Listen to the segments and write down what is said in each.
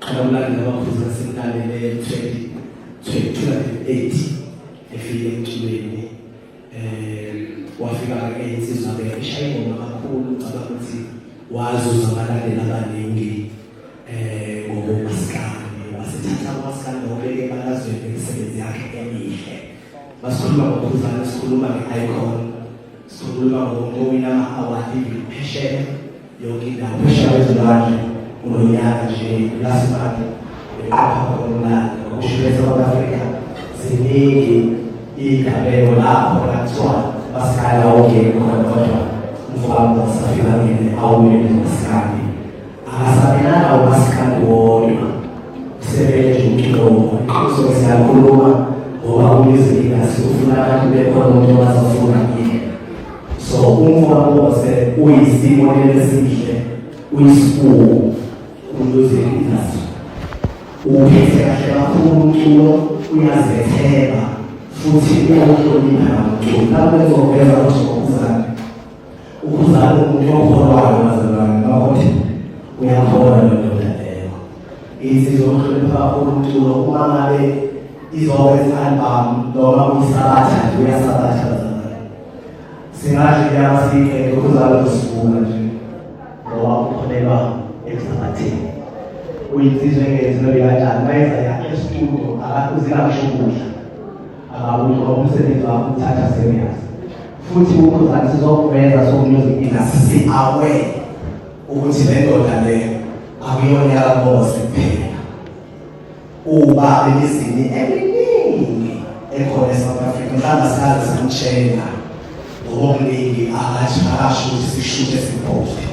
Qhalamlanga abaphuza sentalele 2028 efike emculweni eh wafika ke insizwa ke ishaya ingoma kakhulu ngicabanga ukuthi wazuza abalandeli abaningi eh ngokumaskandi wasethatha umaskandi obeke ebalazweni ngemisebenzi yakhe emihle basikhuluma ngokhuzana sikhuluma nge-icon sikhuluma ngowina ama-award phesheya yonke indawo phesha kwezilwandle kulo nyaka nje last month beqapha khonmnandi ngokushibesa kwabafrika ziningi iy'gabelo lapho nakuthiwa basikhala ongeni khona kodwa umfowabo wasafika ngene awumele masikandi akasamelanga umasikandi wodwa usebenze nje umculo iqiniso siyakhuluma ngoba uyizinga sifuna abantu bekhona umuntu owazofuna So uMfokose uyisibonelo esihle uyisibuko kuMusic Industry. Uphethe kahle kakhulu umculo uyazethemba futhi uyahlonipha nomculo. Lapho ezoveza ukuthi ukhuzane. Ukhuzane umuntu okholwayo bazalwane bakuthi uyakholwa lo ndoda leyo. Insizwa ohlonipha kakhulu umculo uma ngabe izokwenza i-album noma uyisabatha nje uyasabatha singahle inyama siyiqede ukuzala kusivuka nje ngoba ukholelwa emsabathini uyinsizwa engenziwe kanjani bayenza yakhe esitulo akakuzingakusho ukudla akabuthi ngoba umsebenzi wakho uthatha serious futhi ukhuzane sizokuveza sokunyozidina si-awe ukuthi le ndoda le akuyona yakamosi kuphela Uba elizini eliningi ekhona eSouth Africa mhlawumbe sikaze samtshela ngokuningi akathi akasho ukuthi sishuthe sibhode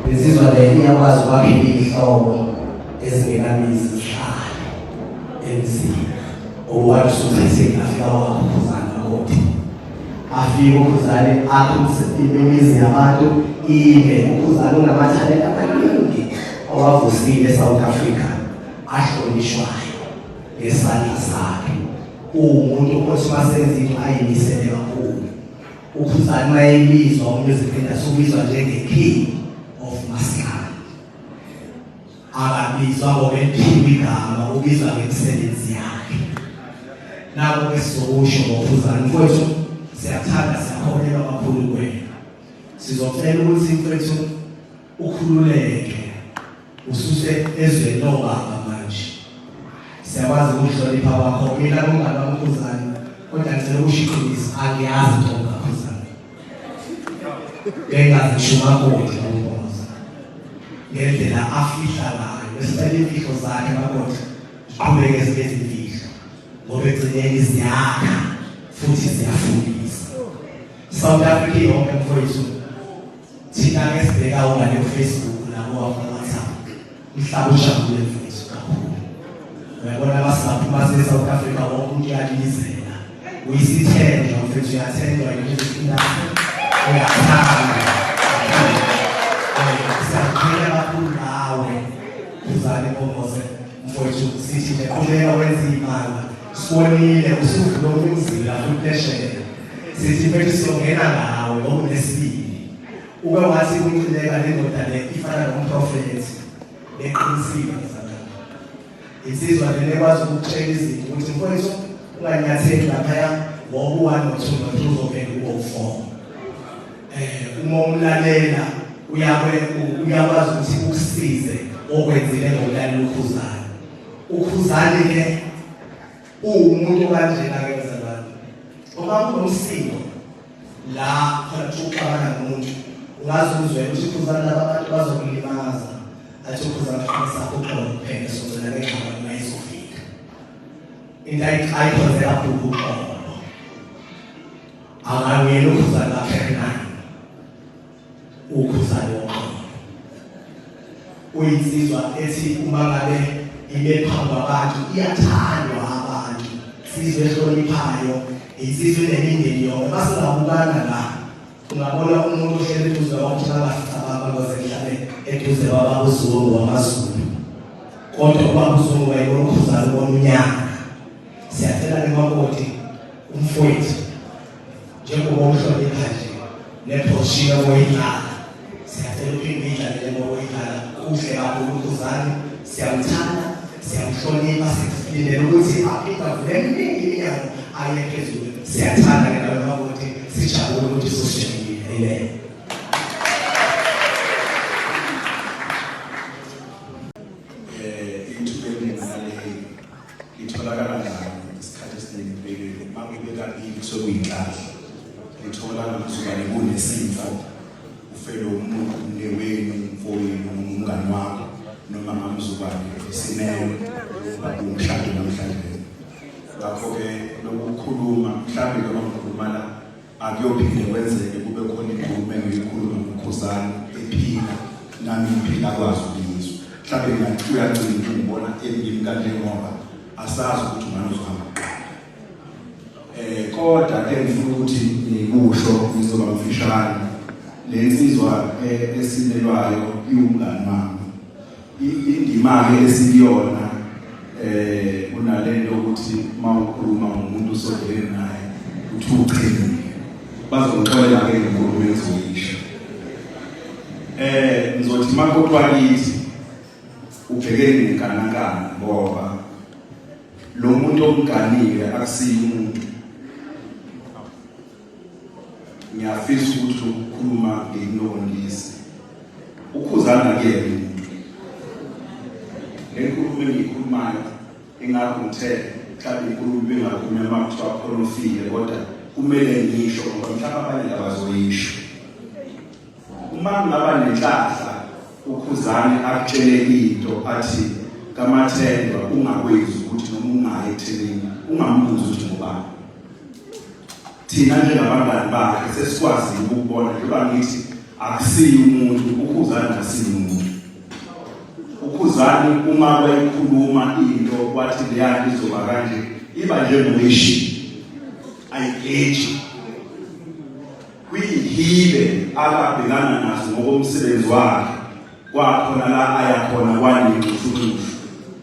lezizwa le iyakwazi ukwakhela iy'hlobo ezingenamizi zihlale emzini owathi usuthetheni afika wakhuphuzana kothi afike ukhuzane akhulise imizi yabantu ibe ukhuzane unamathalenta amaningi owavusile eSouth Africa ahlonishwayo ngesandla sakhe uwumuntu othi masenza into ayimisele kakhulu ukhuzani mayebizwa umuziphinda subizwa njenge-king of maskandi akabizwa ngokephiwa igama ubizwa ngemisebenzi yakhe nako kwesizokusho ngokhuzani mfowethu siyathanda siyakholelwa kakhulu kwena sizocela ukuthi mfowethu ukhululeke ususe ezweni lobaba manje siyakwazi ukuhlonipha kwakho mina kumngane wamkhuzane kodwa ngicela ukushiqhubisa angiyazi into ngakhuzane bengazishuma kodwa umboza ngendlela afihla ngayo besicela imfihlo zakhe bakodwa ziqhubeke ezinye izimfihlo ngoba egcineni ziyakha futhi ziyafundisa south africa yonke mfowethu Thina ke sibheka ungale Facebook nabo wakhulumisa umhlaba ujabule mfethu kakhulu. Uyabona abasaphi base South Africa wonke umuntu uyalilizela. Uyisithenjwa mfethu uyathenjwa yilizindaba. Uyathanda. Siyaqhela kakhulu ngawe. Uzale bomose mfowethu sithi qhubeka wenza imali. Sibonile usuvula umzila futheshe. Sithi mfethu sizongena ngawe ngokunesibili. Ube wathi kunqineka lendoda le ifana nomprofethi. Eqinisile ngizalana. Insizwa lena ekwazi ukutshela izinto ukuthi mfowethu unganyatheli laphaya ngoba uwani nothunga ukuthi uzovela kubo ufomo. Eh uma umlalela uyakwe uyakwazi ukuthi ukusize okwenzile ngokulalela ukhuzayo. ukhuzani ke uwumuntu kanjena ke mzalwane uma kunomsindo la khona kuxabana nomuntu ungaze uzwe ukuthi ukhuzani laba bantu bazokulimaza athi ukhuzani qinisa uxolo kuphela sozela ke ngaba uma izofika into ayikhonzela bhuku uxolo akangeni ukhuzani lapha naye ukhuzane woxolo uyinsizwa ethi uma ngabe ibe phambi kwabantu iyathandwa abantu sizwe ehloniphayo insizwa enemindeni yonke basingabukana la ungabona umuntu ohlele eduze kwabantu bangafica abantu abazenhlabe eduze kwababuzulu wamazulu kodwa ubabuzulu wayebona ukhuzane ubona unyaka siyacela nemakoti umfowethu njengoba uhlonipha nje nephoshiya oyidlala siyacela uphinde idlalele ngoba oyidlala kuhle kakhulu unkuzane siyamthanda siyamhlonipha silindele ukuthi aphinde avule eminingi iminyango aye phezulu siyathanda ke nawe makuthi sijabule ukuthi sosishekile amen Litholakala njani isikhathi esiningi empeleni uma kube kabili kusuke kuyinhlahla lithola ngizokane kunesifo ufele umuntu umnewenu umfowenu umngani wakho noma ngamzukwane isimewe babumshado namhlanje ngakho-ke lokukhuluma mhlawumbe noma ngikhuluma la Akuyophinde kwenzeke kube khona inkulumo engiyikhuluma ngokhuzane ephila nami ngiphila kwazi ukuyizwa. Mhlawumbe ngathi uyagcina ukungibona emini kanje ngoba asazi ukuthi ungane uzohamba kuqala. Eh kodwa ke ngifuna ukuthi ngikusho ngizoba mfishane. Le nsizwa eh, esinelwayo iwumngane wami. Indima-ke esikuyona eh kunalento ukuthi uma ukhuluma ngomuntu osondele naye uthi uqinile bazoxolela ke inkulumo ezoyisho eh ngizothi makodwa kithi ubhekene nenkanakana ngoba lo muntu omganile akusiyi umuntu ngiyafisa ukuthi ukukhuluma nginonisi ukhuzana ke umuntu lenkulumo engiyikhulumayo ingakho ngithe mhlawumbe inkulumo bengakhuluma uma kuthiwa khona ofile kodwa kumele ngisho ngoba mhlawumbe abanye abazoyisho uma ngingaba nenhlahla ukhuzane akutshele into athi kamathendwa ungakwezi ukuthi noma ungayi ethenini ungambuzi ukuthi ngubani thina njengabangani bakhe sesikwazile ukubona njengoba ngithi akusiyi umuntu ukhuzani akusiyi umuntu ukhuzani uma wayikhuluma into kwathi leyani izoba kanje iba njengoyishi ayigeji kwiyihibe akabhekana nazo ngokomsebenzi wakhe Kwakhona la aya khona kwayincushunxushu.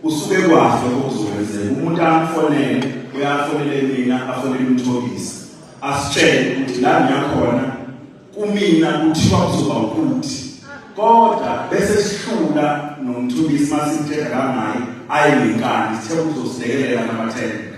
Usuke kwahle okuzokwenzeka. Umuntu amfonele uyafonele mina afonele umthobisi. Asitshele ukuthi la ngiyakhona kumina kuthiwa kuzoba ukuthi kodwa bese sihlula nomthobisi masithetha kangaye ayi ngenkani sithe uzosilekelela namathele.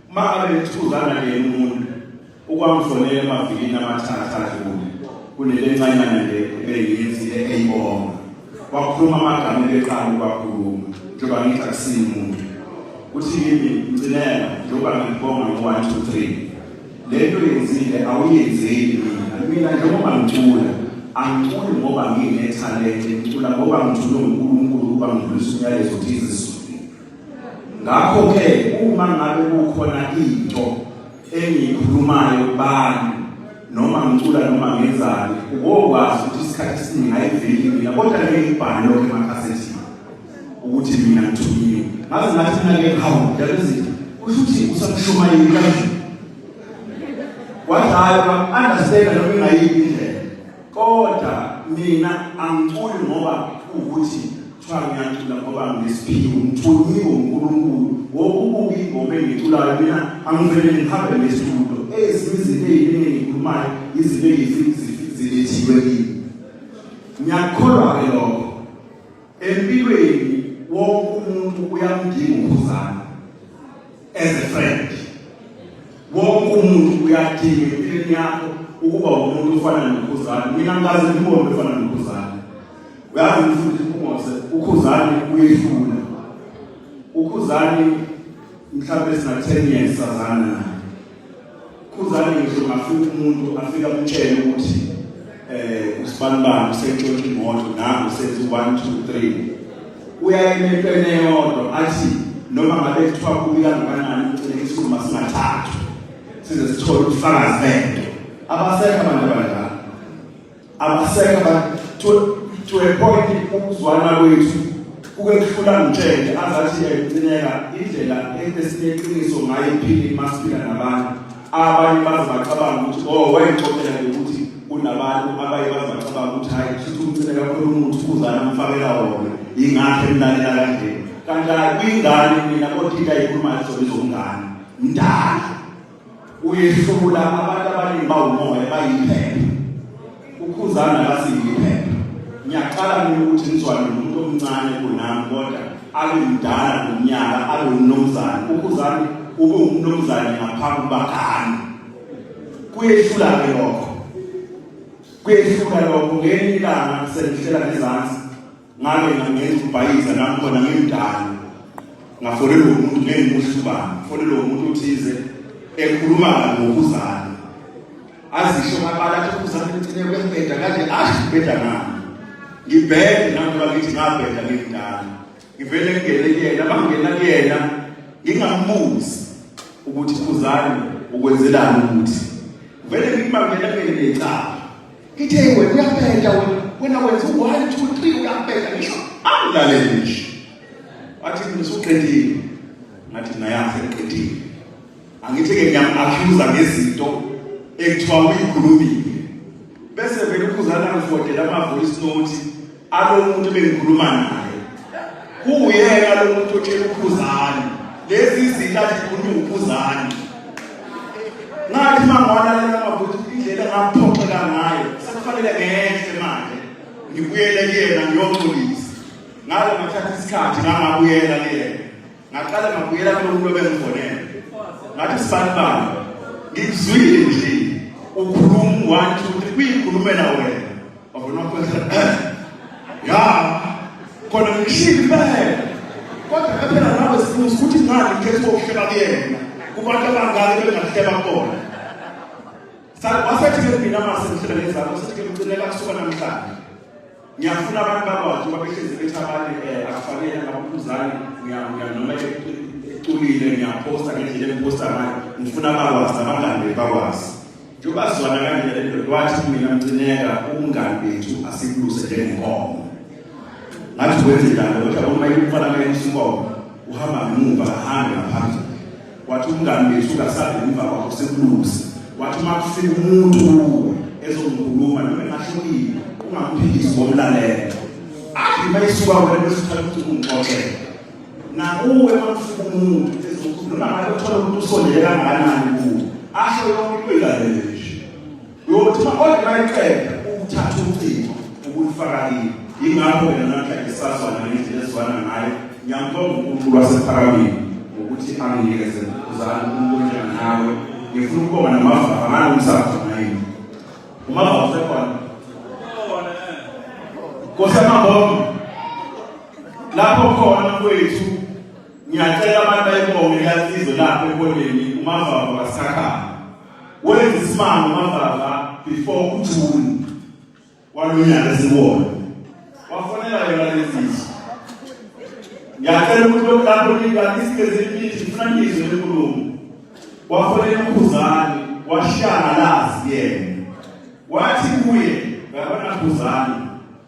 Uma ngabe nithuzana neyena umuntu ukwamfonela emavikini amathathu adlule kunelencanyana nje ebeyiyenzile eyibonga wakhuluma amagama ebeqala ukwakhuluma njengoba ngithi akusiyi umuntu uthi kimi ngcinela njengoba ngibonga ngo-one two three le nto yenzile awuyenzeli mina mina njengoba ngicula angiculi ngoba nginethalente ngicula ngoba ngithulwe ngunkulunkulu ukuba ngidlulise umyalezo thize Ngakho-ke uma ngabe kukhona into engiyikhulumayo kubani noma ngicula noma ngenzani ubokwazi ukuthi isikhathi esiningi ayiveli mina kodwa ngeke ngibhale lokho emakhasethini ukuthi mina ngithunyiwe ngaze ngathi mina ngeke hawu ndabezitha kusho ukuthi usamshumayeli kanje wathi hayi understand noma ingayiphi indlela Kodwa mina angiculi ngoba ukuthi kuthiwa ngiyacula ngoba nginesiphiwo ngithunyiwe uNkulunkulu wokubuka ingoma engiculayo mina angivele ngihambe ngestudio ezinye izinto eziningi engikhulumayo izinto ezilethiwe kimi ngiyakholwa ke lokho Empilweni wonke umuntu uyamdinga ukhuzana as a friend. Wonke umuntu uyadinga empilweni yakho ukuba umuntu ofana nokhuzana. Mina ngikaze ngibone ofana nokhuzana. Uyazi mfundisi uMose ukhuzani uyehlula. Ukhuzani mhlawumbe sina 10 years sazana naye. Khuzani ngisho ngafika umuntu afika amtshele ukuthi eh usibanibani usentshontsha imoto nangu senze 1 2 3 uyayimepene yodwa athi noma ngabe kuthiwa kubi kangakanani ugcine isikhumba singathathwa size sithole ubufakazi bento abasekho abantu abadala Abasekho abantu to to a point ukuzwana kwethu kuke kuhlula ngitshele azathi ecineka indlela esineqiniso ngayo iphini masiphila nabantu abanye baze bacabanga ukuthi oh wayixoxela ukuthi kunabantu abaye baze bacabanga ukuthi hayi kushuthi umcine kakhulu umuntu kuzana umfakela wona yingakho emlalela kanje kanti hayi kwingane mina kodwa into ayikhulumayo zona izongane mdala uyehlula abantu abaningi bawumoya bayiphepha ukhuzana basiyiphepha ngiyaqala mina ukuthi ngizwane nomuntu omncane kunami kodwa abe mdala ngomnyaka abe umnumzane ukhuzane ube umnumzane ngaphambi bakani kuyehlula ke lokho kuyehlula lokho ngenye ilanga sengihlela ngezansi ngake ngangenza ubhayiza nami khona ngimdala ngafonelwa umuntu ngengimuhlubani fonelwa umuntu othize ekhuluma ngokuzana azisho ngabala athi ukuzana ngithine kwembeda kanje ashi beda ngami ngibhede nami bakithi ngabheda ngimdala ngivele ngingene kuyena bangena kuyena ngingambuzi ukuthi uzani ukwenzelani ukuthi vele ngikubangela kuyena ecala Ithe wena uyabheda wena. Wena wenza u 1 2 3 uyabheda ngisho. Angilaleli ngisho. Wathi ngisuqedile. Ngathi ngayazi ngiqedile. Angithi ke ngiyam accuser ngezinto ekuthiwa uyikhulumile. Bese vele ukuzana ngifodela ama voice note alomuntu bengikhuluma naye kuwuyena lomuntu otshela ukhuzani lezi izinto azikhuluma ukhuzani ngathi mangwalalela mabuthi indlela engaphoxeka ngayo sekufanele ngehle manje ngibuyele kuyena ngiyoxolisa ngalo ngathatha isikhathi ngangabuyela kuyena ngaqala ngabuyela kulomuntu obengifonela ngathi sibanibani ngizwile nje ukhuluma one two three kuyikhulumela wena wabona kwesa ya khona ngishilo impela kodwa phela nawe sibuza ukuthi ngani ngeke sokuhleba kuyena kubantu abangaki bengahleba kona wasethi ke mina mase ngihlebe lezakho sethi ke ngicela kusuka namhlanje ngiyafuna abantu bakwazi ukuba behlezi bethi abanye eh, akufanele abaphuzane noma eculile ngiyaphosta ngendlela engiphosta ngayo ngifuna bakwazi abangani bethu bakwazi njengoba sizwana kanje le ndoda wathi mina mcineka ubungani bethu asibuluse njengenkomo ngathi wenze njalo kodwa uma ikufana ngenkomo uhamba ngemuva ahambe ngaphambili wathi umngani wethu ungasali ngemva kwakho sekulusa wathi uma kufika umuntu kuwe ezongikhuluma noma engahlukile ungamphikisi ngomlalela athi uma isuka wena bese uthatha ukuthi ungixoxele nakuwe uma kufika umuntu ezokhuluma noma ngabe uthola umuntu usondele kangakanani kuwe asho yonke into ilalele nje Uyothi kodwa mayiqeda ukuthatha ucingo ubulifakile. Yingakho mina namhla ngisazwa ngendlela ezwana ngayo. Ngiyambonga uNkulunkulu wasephakamile ngokuthi anginikeze uzalo umuntu onjani nawe. Ngifuna ukubonga namava angalo umsakazo ngayini. Umava usekhona. Nkosi amabonga. Lapho khona kwethu ngiyacela abantu bayibonge lasizo lapho ekoleni umava wasakhaya. wenza isimanga uMavava before uJuni walonyaka esiwona wafonela yona lezizwe ngiyacela ukuthi lokulapho ngikanisikezimbithi ngifuna ngizwe lenkulumo wafonela ukhuzane washangalazi yena wathi kuye ngabona khuzane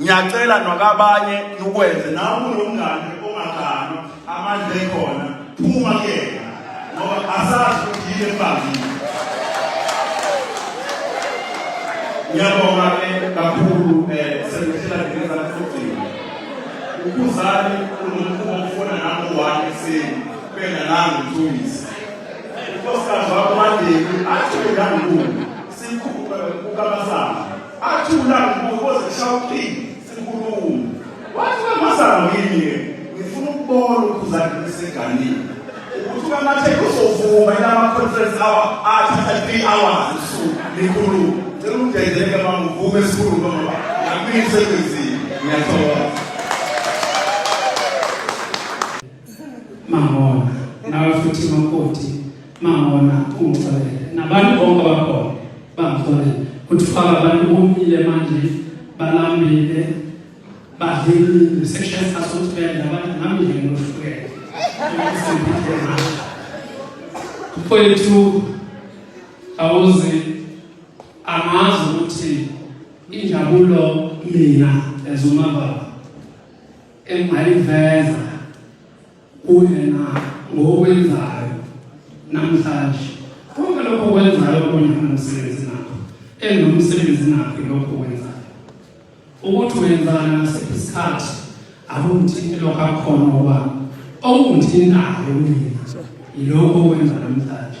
ngiyacela nokabanye nukwenze nawe kunomngane ongaganwa amandla ekhona phuma kuyena ngoba asazi ukuthi yini embambile ngiyabonga ke kakhulu um sengihlela ngingezana sokugcina ukhuzani unomkhuba okufona nami u-one ekuseni bena nangu mthungisi unkosikazi wakho mandeni athi bengangibuka sikhuphe kukamasana Athula ngokuboza shawuqini sinkulumo. Wathi kamazamo yini ngifuna ukubona ukhuzani beseganile. Ukuthi kamathe uzovuma ilama conference hour athatha 3 hours usuku likhuluma. Cela ungenzeleke mama uvume sikhuluma ngoba ngamini sekwenzile. Ngiyathokoza. Mahona nawe futhi makoti Mawona ungixolele nabantu bonke abakhona bangixolele kuthi faka abantu bomile manje balambile badlile section sasosibhedlela abantu nami nje ngohlukene mfowethu awuzi angazi ukuthi injabulo mina ezumababa engayiveza kuyena ngokwenzayo namhlanje konke lokho kwenzayo kunyana nomsebenzi nakho enomsebenzi nakho lokho kwenzayo ukuthi wenzana ngasiphi isikhathi akungithinti lokho akhona okwami okungithintayo kumina yilokho okwenza namhlanje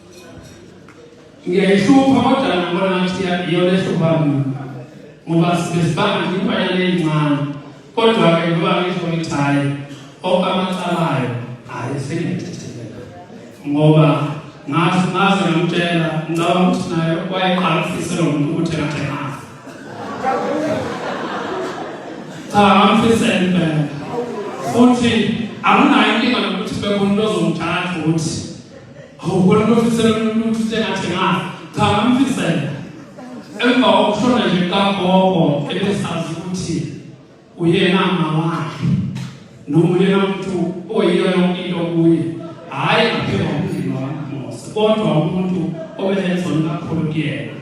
ngiyayihlupha kodwa ngibona ngathi iyona ehlupha mina ngoba sibesibanga nje imbanyana eyincane kodwa-ke ngoba ngisho ngithi hhayi onke amacalayo hhayi sengiyethethekela ngoba ngazi ngaze ngamtshela ngicabanga ukuthi naye wayeqala ukufisela umuntu ukuthi engathenganga cha ngamfisela impela futhi akunayo inkinga nokuthi bekhona into ozomthatha ukuthi awukona nofisela umuntu sengathi ngazi cha ngamfisela emva kokushona nje kagogo ebesazi ukuthi uyena mama wakhe noma uyena muntu oyiyo yonke into kuye hhayi ngaphela umndeni wakamosa kodwa umuntu obelezona kakhulu kuyena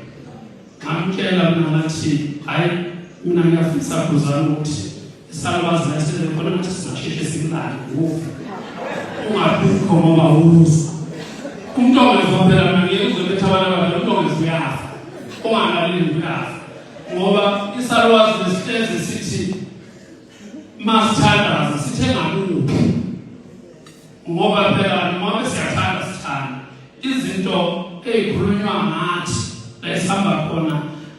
ngamtshela mina ngathi hhayi mina ngiyafisa kuzana ukuthi Isalukazi ngasile khona ukuthi sizasheshe simlale ngokufa. Ungabikho ngoba uza. Umuntu ongefa phela mina ngeke uzobetha abantu abadala umuntu ongefa uyafa. Ungalaleli uyafa. Ngoba isalukazi nesihlezi sithi masithandaza sithenga kuphi ngoba phela noma siyathanda sithanda izinto ezikhulunywa ngathi esihamba khona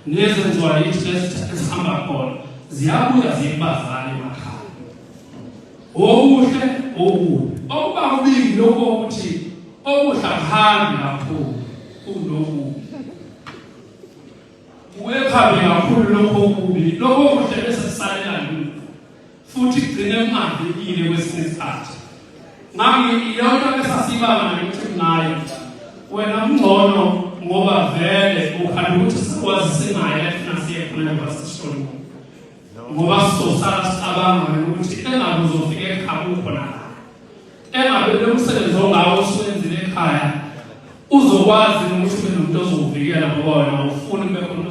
nezenziwa yithi esihamba khona ziyabuya zibazane emakhaya okuhle okubi okuba kuningi lokho ukuthi okuhle akuhambi kakhulu kunokubi kuye phambi kakhulu lokho okubi lokho kuhle bese kusalela futhi kugcine kungavikile kwesinye isikhathi ngami iyona esasibanga nokuthi kunayo wena kungcono ngoba vele ukhanda ukuthi sikwazi sinaye efuna siye khona ngoba sishoni ngoba sizosala sicabanga ukuthi engabe uzofika ekhaya ukhona engabe lo msebenzi ongawo oswenzile ekhaya uzokwazi ukuthi ube nomuntu ozokuvikela ngoba wena ufuni kube khona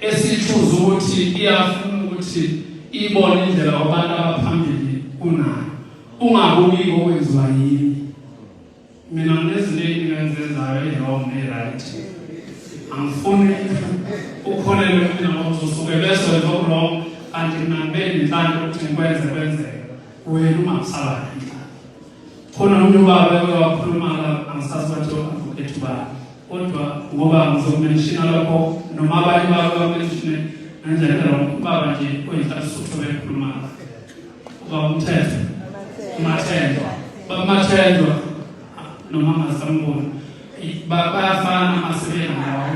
esithuza ukuthi iyafuna ukuthi ibone indlela kwabantu abaphambili kunayo ungabuki okwenziwa yini mina nginezinto eziningi engizenzayo e-wrong ne-right angifuni ukholelwe mina ngokuthi usuke bese wenza oku-wrong kanti mina ngibe nenhlanhla ukuthi ngikwenze kwenzeka wena ungakusabani khona umuntu ubaba eke wakhuluma angisazi bathi o-advocate ba kodwa ngoba ngizokumenshina lokho noma abanye babo bamenshine ngendlela kalo ubaba nje oyinhlasisutho bekhuluma uba umthetho umathendwa bamathendwa noma angasamboni bayafana amasebeni lawo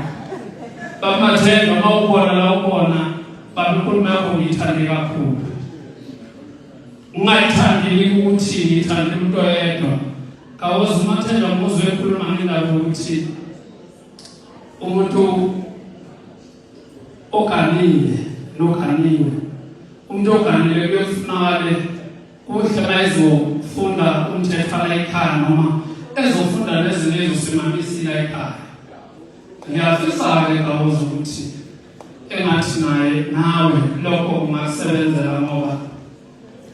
bamathendwa uma ubona la ubona babekhuluma yakho ngiyithande kakhulu Ungayithandi yini ukuthi ngithande umuntu oyedwa? Kawozi uMathenda umbuzo ekhuluma ngendaba yokuthi umuntu oganile noganiwe umuntu oganile kuyofunakale kuhle bayezofunda umthetho la ekhaya noma ezofunda nezinto ezosimamisile ekhaya ngiyafisa-ke kawozi ukuthi engathi naye nawe lokho kungakusebenzela ngoba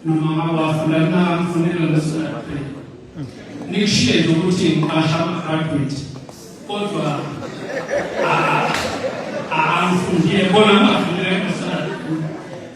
noma ngabe wafunda kungakufunela lesoape nikushiye nje ukuthi ngiqasha ama-graduate kodwa angifundile bona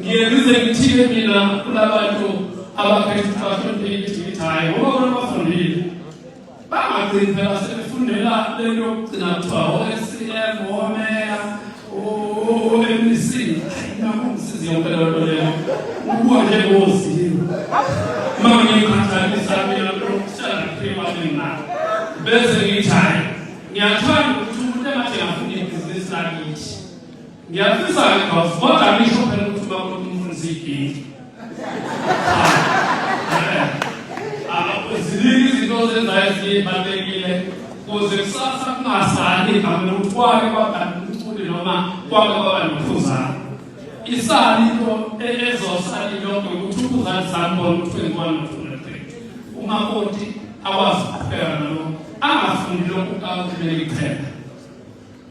ngiye ngize ngithile mina kulabantu abakhetha ukuthi bahlonipheke ithi ngithi hhayi ngoba bona bafundile bangagcini phela sebefundela le nto yokugcina kuthiwa o-scm omeya o-mec nakumsizi yonke leyo nto leyo ukuwa njengozilo uma ngiyikhathalisa mina lokuhlala ngiphima mina bese ngithi hhayi ngiyathanda ukuthi umuntu engathi ngafunda ibhizinisi lakithi Ngiyafisa ke boss kodwa angisho phela ukuthi uba umuntu umfundisa iginti. Ziningi izinto ozenzayo ezibalulekile kuze kusasa kungasali igama lokuthi kwake kwagana umculi noma kwake kwaba nokhuzana. Isali into ezosali lonke ukuthi ukhuzana sambona ukuthi wenzwani nokhuzana. Umakoti akwazi ukuphela nalokho angafuni lokhu kakuthi bekuphela.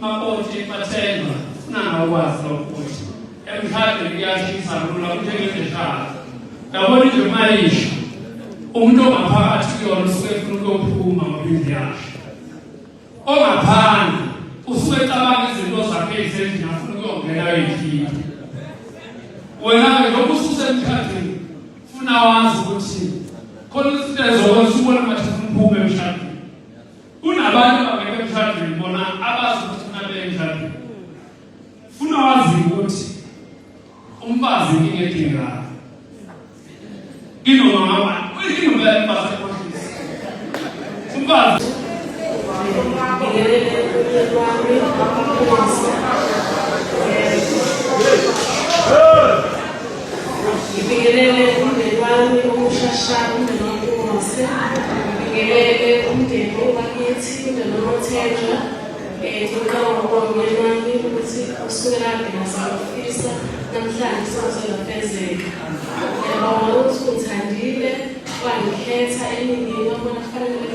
Makoti Mathenjwa sinanga ukwazi lokho ukuthi emhlabeni kuyashisa lula kuthengezeshaka ndabona nje mayisho umuntu ongaphakathi kuyona usuke efuna ukuyophuma ngoba indlu yakhe ongaphandle usuke ecabanga izinto zakhe ezendlini afuna ukuyongena eyikhipha wena-ke lokhu ususemkhathini funa wazi ukuthi khona izinto ezokwenza ubona ngathi funa uphume emshadweni Kunabantu abangeke emshadweni bona abazi ukuthi funa beye emshadweni. Funa wazi ukuthi umfazi inkinga edingekayo. Inoma ngaba, inoma yemfazi ekhohlisa. Umfazi Hey! Ngibingelele umndeni wami okushasha umndeni waMpungose. Ngibingelele umndeni owakithi umndeni wamaThenjwa. Eh, Ngiqala ngokubonga umyeni wami ukuthi usuke kade ngasafisa namhlanje sewuselafezeka. Ngiyabonga ukuthi ungithandile wangikhetha eningini wabona kufanele